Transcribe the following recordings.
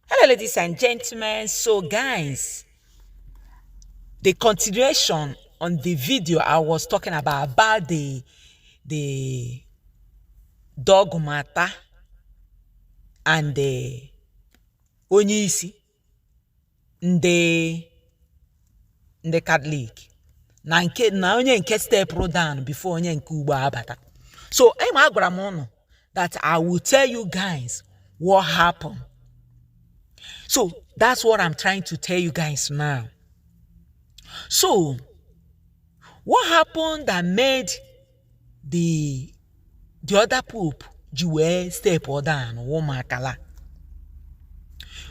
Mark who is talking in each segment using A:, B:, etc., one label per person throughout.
A: Hello, ladies and gentlemen. So, guys, the continuation on the video I was talking about about the the dog matter and the onye isi ndị ndị katọlik na nke na onye nke stepụrụ down before onye nke ugbu a bata so ị ma agwara m ụnụ that I will tell you guys what happened. So that's what I'm trying to tell you guys now. So, what happened that made the the other pope ji wee step down ụmụakala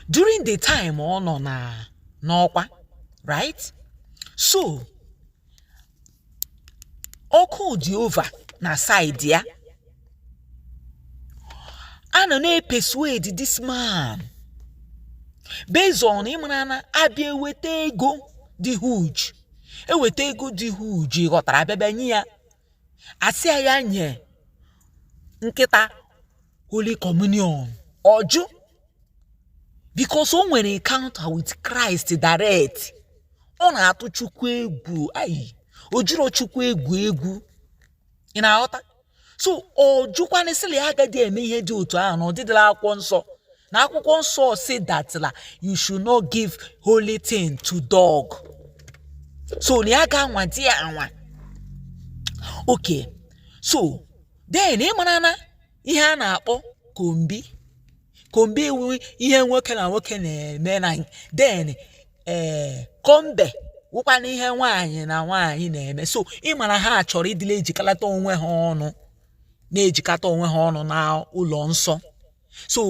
A: during the time ọ nọ na n'ọkwa right so ọkụ dị over na side ya a nọ na-epersuade this man based on ị mara na a bịa eweta ego dị huge eweta ego dị huge ghọtara a bịa bịa nye ya a sị ya ya nye nkịta holy communion ọ jụ because o nwere encounter with Christ direct ọ na-atụ chukwu egwu ayi o jiro chukwu egwu egwu ị na-aghọta so ọ jụkwanụ sị la ya agadi eme ihe dị otu ahụ na ọ dịdị la akwụkwọ nsọ na akwụkwọ nsọ sị that la you should not give holy thing to dog so na ya ga-anwadị ya anwa okay so then ị mara na ihe a na-akpọ kombi kombi wụ ihe nwoke na nwoke na-eme na then ee eh, kombe wụkwana ihe nwaanyị na nwaanyị na-eme so ị mara ha chọrọ ịdị la-ejikalata onwe ha ọnụ na-ejikọta onwe ha ọnụ n'ụlọ nsọ so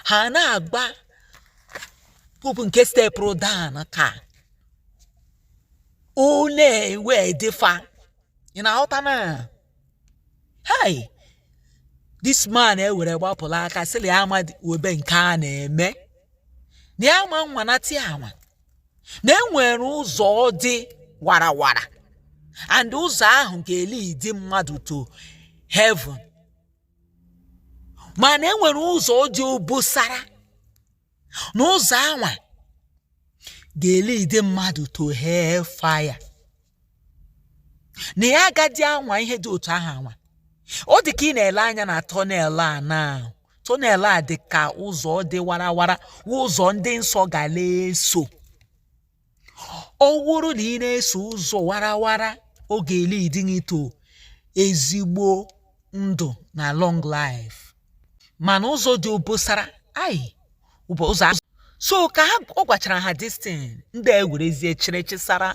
A: ha na-agba pope nke stepụrụ down ka ọ na-ewedi fa ị na-aghọta na hei this man ewere gbapụla aka sị la ya ama webe nke a na-eme na ya ma nwa na ti ama na e nwere ụzọ dị warawara and ụzọ ahụ ga-elidi mmadụ to heaven mana e nwere ụzọ dị obosara na ụzọ anwa ga-elidi mmadụ to hell fire na ya agadi anwa ihe dị otu ahụ anwa ọ dị ka ị na-ele anya na tunnel a na-ahụ tunnel a dị ka ụzọ dị warawara ụzọ ndị nsọ ga na-eso ọ bụrụ na ị na-eso ụzọ warawara ọ ga-elidi gị to ezigbo ndụ na long life mana ụzọ dị obosara ayi ụzọ azụ so ka ha ọ gwachara ha this thing ndị a ewerezie chere chisara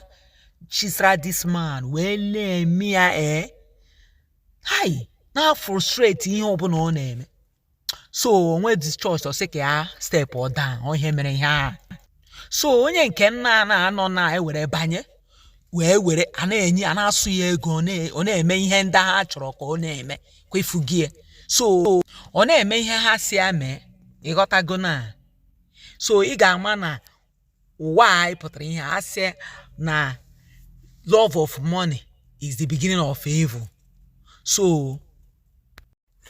A: chisara this man wee na-eme ya ee eh? hai na-afrustrate ihe ọbụla ọ na-eme so onwe dị chọọchị ọ sị ka ya stepụọ down ọ ihe mere ihe a so onye nke nna a na-anọ na e were banye wee were a na-enye a na-asụ ya ego ọ na-eme ihe ndị ha chọrọ ka ọ na-eme kwa ifu gị so ọ na-eme ihe ha sị ya mee ị ghọtago na so ị ga-ama na ụwa anyị pụtara ihe a sị na love of money is the beginning of evil so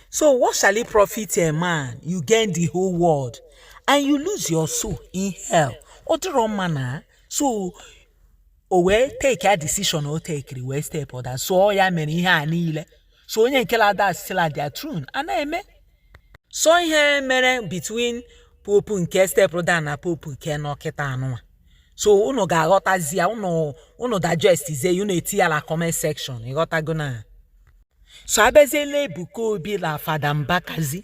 A: So what shall it profit a man you gain the whole world and you lose your soul in hell? Ọ dịrọ mma na so o wee take a decision o take-iri wee stepụọ down so ọ ya mere ihe a niile so onye nke la-adansịla their tune a na-eme so ihe mere between popu nke step down na popu nke nọ kịta a nụnwa so unu ga-aghọtazi ya unu unu digestizie ya unu etie ya na comment section ị ghọtago na so a bịaziela Ebuka Obi na Fada Mbakazi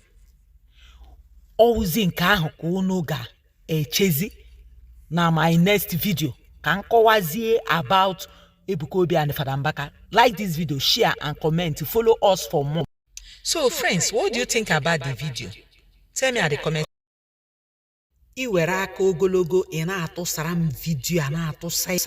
A: ọ wụzi nke ahụ ka unu ga-echezi na my next video ka m kọwazie about Ebuka Obi and Fada Mbaka like this video share and comment follow us for more so friends what do you think about the video tell me at the comment i nwere aka ogologo ị na-atụsara m vidio a na-atụsa